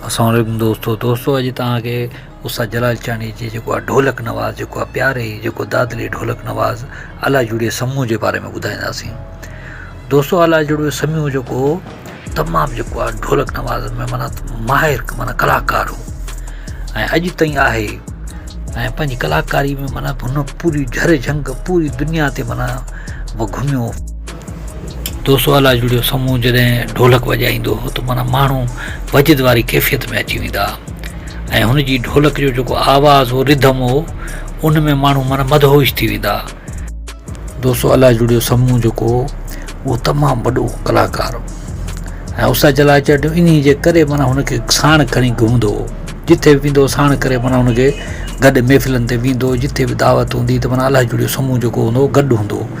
اسلام عليڪم دوستو دوستو اڄ توهان کي استاد جلال چانڊيي جي جيڪو آهي ڍولڪ نواز جيڪو آهي پياري جيڪو دادلي ڍولڪ نواز الا جوڙي سمون جي باري ۾ ٻڌائينداسين دوستو الا جوڙي سمون جيڪو هو تمام جيڪو آهي ڍولڪ نواز ۾ مانا ماهر مانا ڪلاڪار هو ۽ اڄ تائين آهي ۽ پنهنجي ڪلاڪاري ۾ مانا هن پوري جهر جهنگ پوري دنيا تي مانا گهميو دوستو الاجڙي جو سمون جڏهن ڍولڪ وڄائيندو هو ته معنيٰ ماڻهو وجد واري ڪيفيت ۾ اچي ويندا ۽ هن جي ڍولڪ جو جيڪو آواز هو رڌم هو ان ۾ ماڻهو معنيٰ مدهوش ٿي ويندا دوستو الاجڙي جو سمون جيڪو هو اهو تمام وڏو ڪلاڪار هو ۽ استاد جلال چرڙيو انهي جي ڪري معنيٰ هن کي ساڻ کڻي گهمندو هو جتي به ويندو هو ساڻ ڪري معنيٰ هن کي گڏ محفلن تي ويندو هو جتي به دعوت هوندي هئي ته معنيٰ الاجڙي جو سمون جيڪو هوندو هو گڏ هوندو هو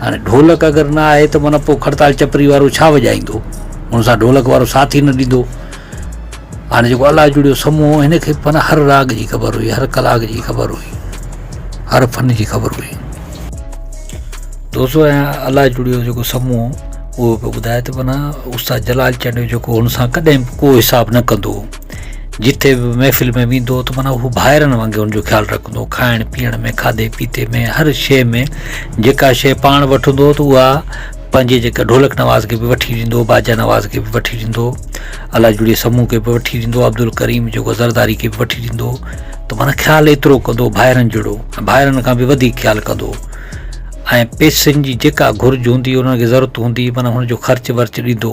هاڻي ڍولڪ اگر نه آهي ته معنيٰ پوء کڙتال چپري وارو ڇا وڄائيندو؟ ان سان ڍولڪ وارو ساٿ ئي نه ڏيندو. هاڻي جيڪو الله جوڙيو سمون هو، هن کي معنيٰ هر راڳ جي خبر هئي، هر ڪلاڪ جي خبر هئي، هر فن جي خبر هئي. دوستو ۽ الله جوڙيو جيڪو سمون هو، اهو پيو ٻڌائي ته معنيٰ استاد جلال چانڊيو جيڪو هن سان ڪڏهن به ڪو حساب نه ڪندو هو. جتي به محفل ۾ ويندو ته معنيٰ هو ڀائرن وانگي ان جو خيال رکندو کائڻ پيئڻ ۾ کاڌي پيتي ۾ هر شيء ۾ جيڪا شيء پاڻ وٺندو ته اها پنهنجي جيڪا ڍولڪ نواز کي به وٺي ڏيندو باجا نواز کي به وٺي ڏيندو الله جوڙي سمون کي به وٺي ڏيندو عبدالڪريم جيڪو زرداري کي به وٺي ڏيندو ته معنيٰ خيال ايترو ڪندو ڀائرن جهڙو ڀائرن کان به وڌيڪ خيال ڪندو ۽ پيسن جي جيڪا گهرج هوندي انهن کي ضرورت هوندي معنيٰ هن جو خرچ ورچ ڏيندو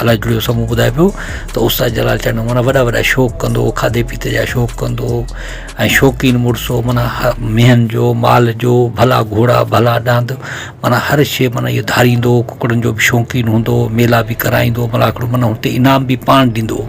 الاء ڪهڙو سمون ٻڌائي پيو ته استاد جلال چانڊيو مانا وڏا وڏا شوق ڪندو هو کاڌي پيتي جا شوق ڪندو هو ۽ شوقين مڙس هو مانا مينهن جو مال جو ڀلا گهوڙا ڀلا ڏاند مانا هر شيء مانا اهو ڌاريندو هو ڪڪڙن جو به شوقين هوندو هو ميلا به ڪرائيندو هو ملاکڙو مانا هتي انعام به پاڻ ڏيندو هو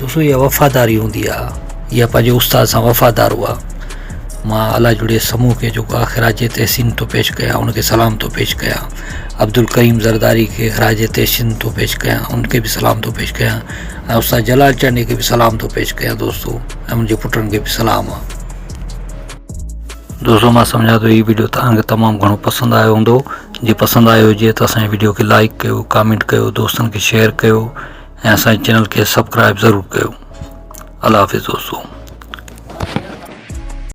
دوستو اها وفاداري هوندي آ اها پنهنجي استاد سان وفادار هئا مان الله جوڙي سمون کي جو خراج تحسين ٿو پيش ڪيان ان کي سلام ٿو پيش ڪيان عبدالڪريم زرداري کي خراج تحسين ٿو پيش ڪيان ان کي به سلام ٿو پيش ڪيان ۽ استاد جلال چانڊيي کي به سلام ٿو پيش ڪيان دوستو ۽ منهنجي پٽن کي به سلام آ دوستو مان سمجهان ٿو هي ويڊيو تان کي تمام گهڻو پسند آيو هوندو جي پسند آيو هجي ته اسان جي ويڊيو کي لائڪ ڪيو ڪامينٽ ڪيو دوستن کي شيئر ڪيو ۽ اسان جي چينل کي سبڪرائب ضرور ڪيو الله حافظ دوستو